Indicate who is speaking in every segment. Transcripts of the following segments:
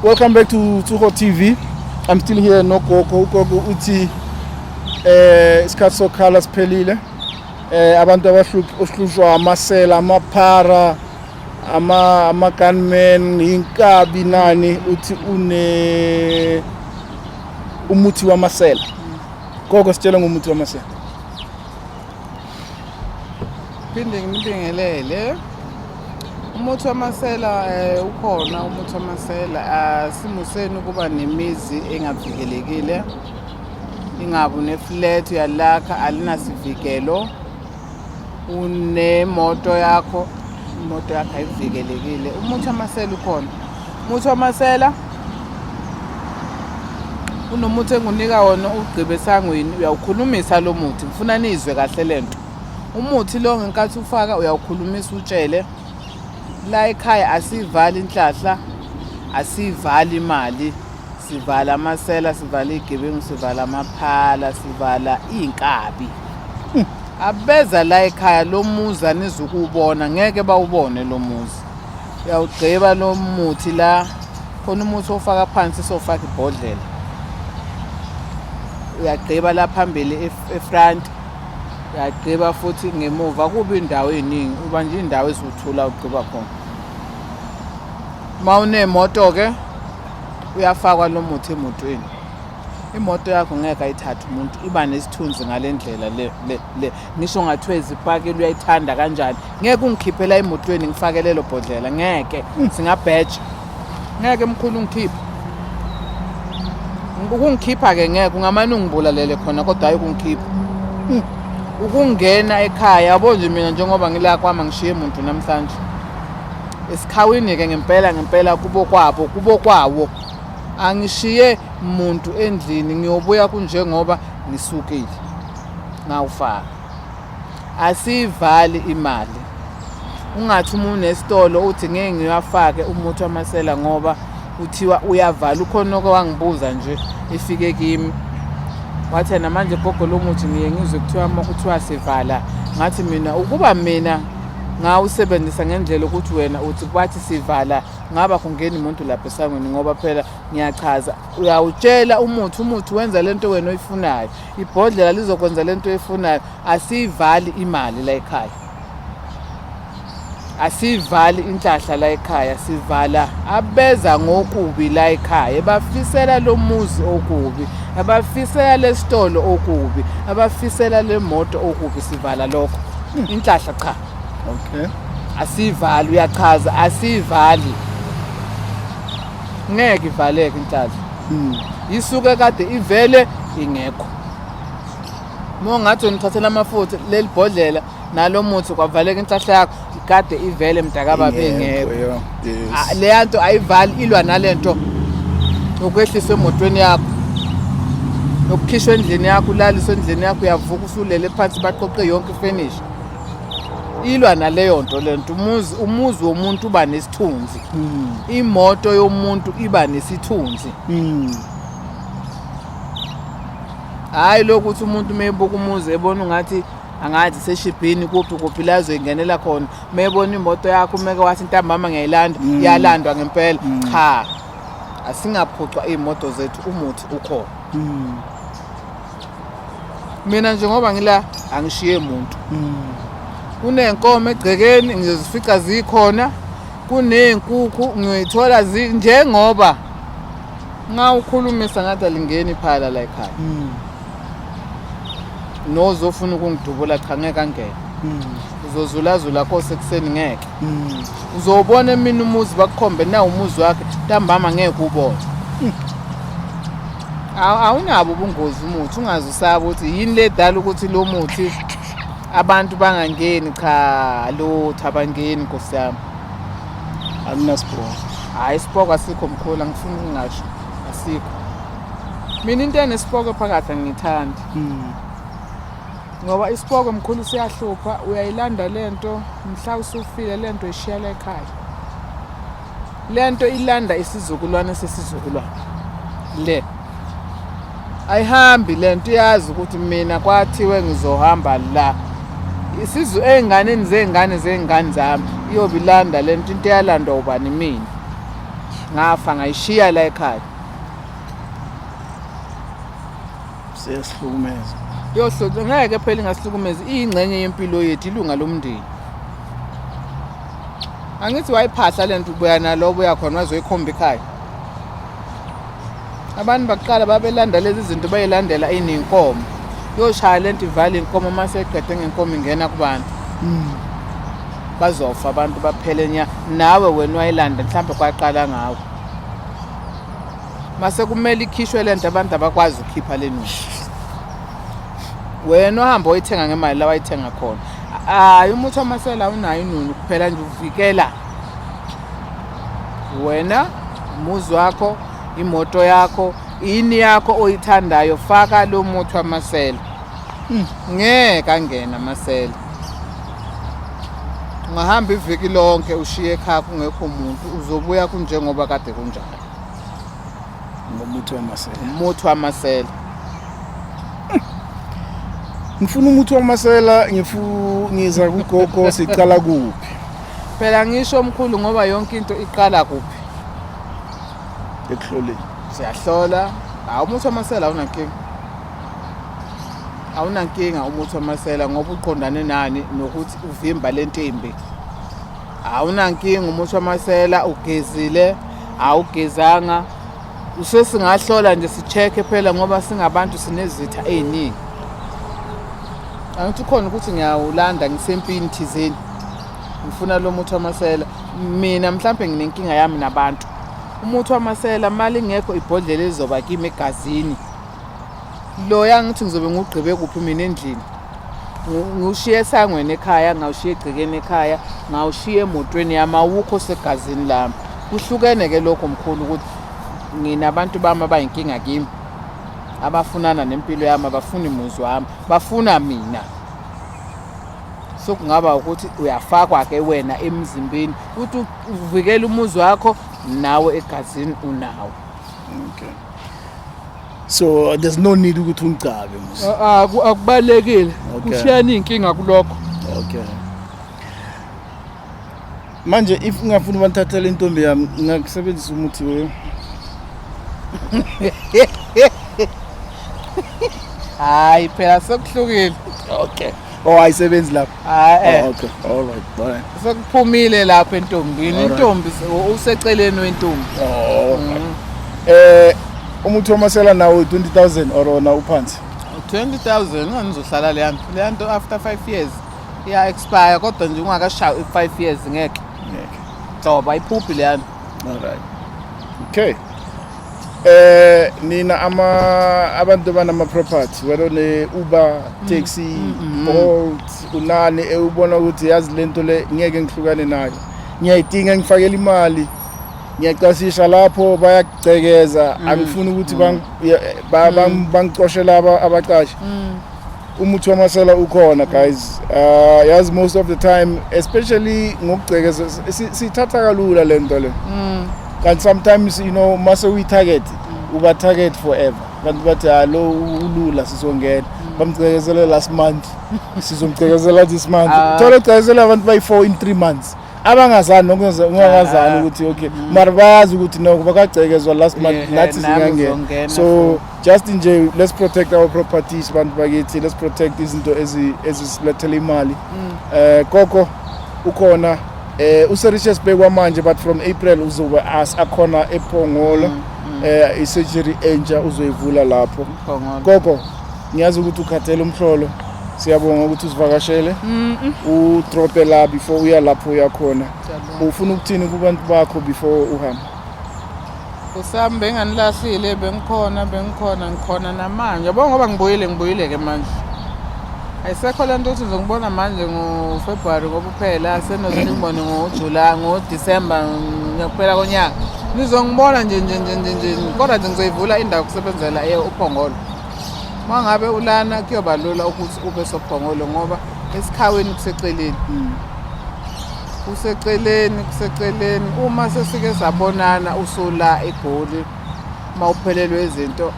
Speaker 1: Welcome back to Tuho TV. I'm still here no Gogo. Gogo uthi eh isikhathi sokhala siphelile. Eh abantu abahlushwa amasela, amaphara, ama ama gunmen, inkabi nani uthi une umuthi wamasela. Gogo sitshela ngomuthi wamasela.
Speaker 2: phinde nginibingelele umuthi wamasela um ukhona umuthi wamasela asimuseni ukuba nemizi engavikelekile ingabu ne-flat uyalakha alinasivikelo unemoto yakho imoto yakho ayivikelekile umuthi wamasela ukhona Muthi wamasela unomuthi engunika wona ugqibe esangweni uyawukhulumisa lo muthi ngifuna nizwe kahle le nto umuthi lo ngenkathi ufaka uyawukhulumisa utshele la ekhaya asiyivali inhlahla asiyivali imali sivala amasela sivala igebengu sivala amaphala sivala iy'nkabi hmm. abeza la ekhaya lo muzi anizukubona ngeke bawubone lo muzi uyawugqiba lo muthi la khona umuthi ofaka phansi sofaka ibhodlela uyagqiba la phambili efront uyagqiba futhi ngemuva kuba indawo eningi uba nje indawo eziwuthula ugqiba khona uma unemoto-ke uyafakwa lo muthi emotweni imoto yakho ngeke ayithathe umuntu iba nesithunzi ngale ndlela le ngisho ngathiwa izipaki luyayithanda kanjani ngeke ungikhiphela emotweni ngifake lelo bhodlela ngeke hmm. singabheja ngeke mkhulu ungikhiphe ukungikhipha-ke ngeke ungamane ungibulalele khona kodwa hhayi ukungikhipha hmm. ukungena ekhaya yabo nje mina njengoba ngila kwami angishiye muntu namhlanje esikhawini-ke ngempela ngempela kubo kwabo kubo kwawo angishiye muntu endlini ngiyobuya kunjengoba ngisukile ngawufaka asiyivali imali ungathi uma unesitolo uthi ngeke ngiwafake umuthi wamasela ngoba kuthiwa uyavala ukhona oke wangibuza nje efike kimi wathi namanje gogo lo muthi ngiye ngizwe kuthiwa kuthiwa sivala ngathi mina ukuba mina ngawusebenzisa ngendlela ukuthi wena uthi kwathi sivala ngaba kungeni umuntu lapha esangweni ngoba phela ngiyachaza uyawutshela umuthi umuthi wenza lento wena oyifunayo ibhodlela lizokwenza le nto efunayo asiyivali imali la ekhaya asiyivali inhlahla la ekhaya sivala abeza ngokubi la ekhaya bafisela lo muzi okubi abafisela lesitolo okubi abafisela lemoto okubi sivala lokho hmm. inhlahla cha okay
Speaker 1: asivali
Speaker 2: uyachaza asivali ngeke ivaleke inhlalo hmm. isuke kade ivele ingekho uma ungathi unithathela amafutha leli bhodlela nalo muthi kwavaleka inhlahla yakho ikade ivele mntakababa engekho ah, leya nto ayivali ilwa nale nto yokwehliswa emotweni yakho yokukhishwa endlini yakho ulaliswa endlini yakho uyavuka usulele phansi baqoqe yonke ifenisha ilwa naleyo nto le nto umuzi umuzi womuntu uba nesithunzi hmm. imoto yomuntu iba nesithunzi hmm. hhayi lokhu ukuthi umuntu uma ebuka umuzi ebona ungathi angathi seshibhini kuphi kuphi la zoyingenela khona uma ebona imoto yakho umeke wathi intambama ngiyayilanda hmm. iyalandwa ngempela cha asingaphucwa iy'moto zethu umuthi ukhona mina nje ngoba ngila angishiye muntu mm. kunenkomo egcekeni ngizozifica zikhona kunezinkukhu ngiyoyithola njengoba nxa ukhulumisa ngathi alingeni iphala la ekhaya mm. nozofuna ukungidubula cha ngeke angene mm. uzozulazula kose ekuseni ngeke mm. uzowubona emini umuzi bakukhombe nawo umuzi wakhe ntambama ngeke ubone mm. awunabo ubungozi umuthi ungazi usaba ukuthi yini le dala ukuthi lo muthi abantu bangangeni cha lutho abangeni nkosi yami
Speaker 1: anginasibhoko hhayi
Speaker 2: isibhoko asikho mkhulu angifuni ukungasho asikho mina into enesibhoko phakathi angiyithandi mm. ngoba isipoko mkhulu siyahlupha uyayilanda le nto mhla usufile le nto ishiyela ekhaya le nto ilanda isizukulwane sesizukulwane le ayihambi le nto iyazi ukuthi mina kwathiwe ngizohamba la isizu ey'nganeni zey'ngane zey'ngane zami iyobe ilanda le nto into eyalandwa ubani mina ngafa ngayishiya la ekhaya
Speaker 1: siyasihlukumeza yohlonze ngeke
Speaker 2: phela ingahlukumezi iyingxenye yempilo yethu ilunga lomndeni angithi wayiphahla le nto ubuya nalobo uyakhona wazoyikhomba ikhaya abantu bakuqala babelanda lezi zinto bayilandela inenkomo yoshaya le nto ivala inkomo uma seqede ngenkomo ingena kubantu hmm. bazofa abantu baphele nya nawe wena wayilanda mhlawumbe kwaqala ngawo mase kumele ikhishwe lento abantu abakwazi ukukhipha lenuzi wena ohamba oyithenga ngemali la wayithenga khona hayi umuthi wamasela unayo inunu kuphela nje uvikela wena umuzi wakho imoto yakho yini yakho oyithandayo faka lo muthi wamasela hmm, ngeke angena amasela ungahamba iviki lonke ushiye ekhaya kungekho muntu uzobuya kunjengoba kade kunjalo Ngomuthi
Speaker 1: wamasela. Umuthi wamasela. Ngifuna umuthi wamasela ngifu ngiza kugogo siqala kuphi? Phela ngisho
Speaker 2: omkhulu ngoba yonke into iqala kuphi?
Speaker 1: Ekuhloleni. Siyahlola.
Speaker 2: Hawu umuthi wamasela awunankinga. Awunankinga umuthi wamasela ngoba uqondane nani nokuthi uvimba lentimbi. Awunankinga umuthi wamasela ugezile. awugezanga usesingahlola nje sicheke phela ngoba singabantu sinezitha ey'ningi angithi khona ukuthi ngiyawulanda ngisempini thizeni ngifuna lo muthi wamasela mina mhlawumbe nginenkinga yami nabantu umuthi wamasela mali ngekho ibhodlela elizoba kimi egazini Loya ngithi ngizobe ngugqibe kuphi mina endlini. Ngiwushiye esangweni ekhaya, ngawushiya egcekeni ekhaya, ngawushiya emotweni yami awukho segazini lami. Kuhlukene ke lokho mkhulu ukuthi ngina abantu bami abayinkinga kimi abafunana nempilo yami abafuni muzi wami bafuna mina so kungaba ukuthi uyafakwa ke wena emzimbeni ukuthi uvikele umuzi wakho nawe egazini unawo okay
Speaker 1: so there's no need ukuthi ungigcabe mos A- a- aku- akubalekile
Speaker 2: Okay. kushiyana
Speaker 1: iy'nkinga kulokho okay manje if ungafuni ubathathela intombi yami ngingakusebenzisa umuthi we
Speaker 2: hayi phela sekuhlukile okay
Speaker 1: oh ayisebenzi lapho Ah, eh. Oh, okay. All right. Bye. Sekuphumile lapha
Speaker 2: entombini. Intombi
Speaker 1: useceleni
Speaker 2: wentombi. Oh.
Speaker 1: Mm. Eh uma uthomasela nawo 20000 or ona uphansi. 20000
Speaker 2: ngizohlala le yanto. Le yanto after 5 years iya expire kodwa nje ungakashayi 5 years ngeke. Ngeke.
Speaker 1: Thoba iphuphi
Speaker 2: le yanto. Alright.
Speaker 1: Okay. Eh nina ama abantu banama property wena ne Uber, mm. taxi, mm, mm, Bolt, unani ewubona ukuthi yazi lento le ngeke ngihlukane nayo. Ngiyayidinga ngifakela imali. Ngiyacasisha lapho bayakugcekeza angifuni ukuthi bangicoshe laba abaqashi. Umuthi wamasela ukhona guys. Uh yazi most of the time especially ngokugcekeza sithatha kalula lento le. Mm. Kanti sometimes you know mase uyi target mm. uba target forever. Kanti bathi alo ah, ulula sizongena. Mm. Bamgcekezele last month. Sizomgcekezela this month. Ah. Thola ugcekezela abantu bayi 4 in 3 months. abangazani nokungazani ah. ukuthi okay mara bayazi ukuthi noko bakagcekezwa last month nathi singangena so just nje let's protect our properties bantu bakithi let's protect izinto ezisilethela imali mm. eh koko ukhona eh uSericious Bekwa manje but from April uzobe as akhona ePhongolo mm, mm. eh isurgery entsha uzoyivula lapho koko ngiyazi ukuthi ukhathele umhlolo siyabonga ukuthi usivakashele udrope la before uya lapho uyakhona ufuna ukuthini kubantu bakho before uhamba
Speaker 2: Kusami benganilahlile bengikhona bengikhona ngikhona namanje yabo ngoba ngibuyile ngibuyile-ke manje ayisekho le nto ukuthi ngizongibona manje ngofebruwari ngoba uphela senoze ngibone ngojula ngodisemba ngiyakuphela konyaka nizongibona nje nje nje nje nje kodwa nje ngizoyivula indawo kusebenzela uphongolo uma ngabe ulana kuyoba lula ukuthi ube sophongolo ngoba esikhaweni kuseceleni mm. kuseceleni kuseceleni uma sesike sabonana usula egoli uma uphelelwe izinto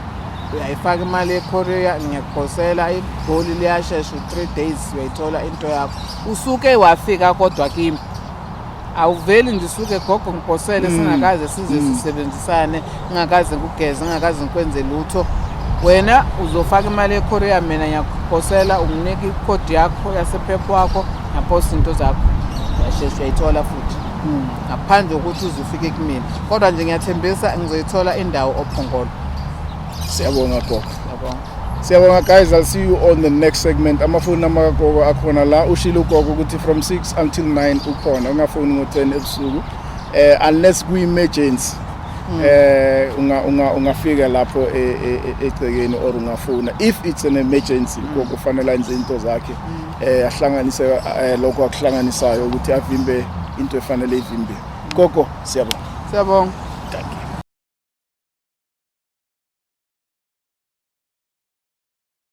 Speaker 2: uyayifaka imali yekorea ngiyakuphosela igoli liyashesha u-three days uyayithola into yakho usuke wafika kodwa kimi awuveli nje usuke gogo ngiphosele mm. singakaze size mm. sisebenzisane Ngingakaze kugeze, ngingakaze ngikwenze lutho. Wena uzofaka imali eKorea mina ngiyakuphosela unginike ikhodi yakho yasephep wakho ngaphosa into zakho. Yasheshe uyayithola futhi. Hmm. Ngaphandle kokuthi uzufike kumina. Kodwa nje ngiyathembisa ngizoyithola indawo ophongolo.
Speaker 1: Siyabonga gogo. Siyabonga.
Speaker 2: Siyabonga guys,
Speaker 1: I'll see you on the next segment. Amafoni amakagogo akhona la. Ushilo ugogo ukuthi from 6 until 9 ukhona. Ungafoni ngo-10 ebusuku. Eh unless kuyi-emergency. Mm. eh unga unga ungafika lapho e, e, e, egcekeni or ungafuna if it's an emergency mm. kokufanele enze into zakhe mm. eh ahlanganise eh, lokho akuhlanganisayo ukuthi avimbe into efanele
Speaker 2: ivimbe
Speaker 1: gogo siyabonga siyabonga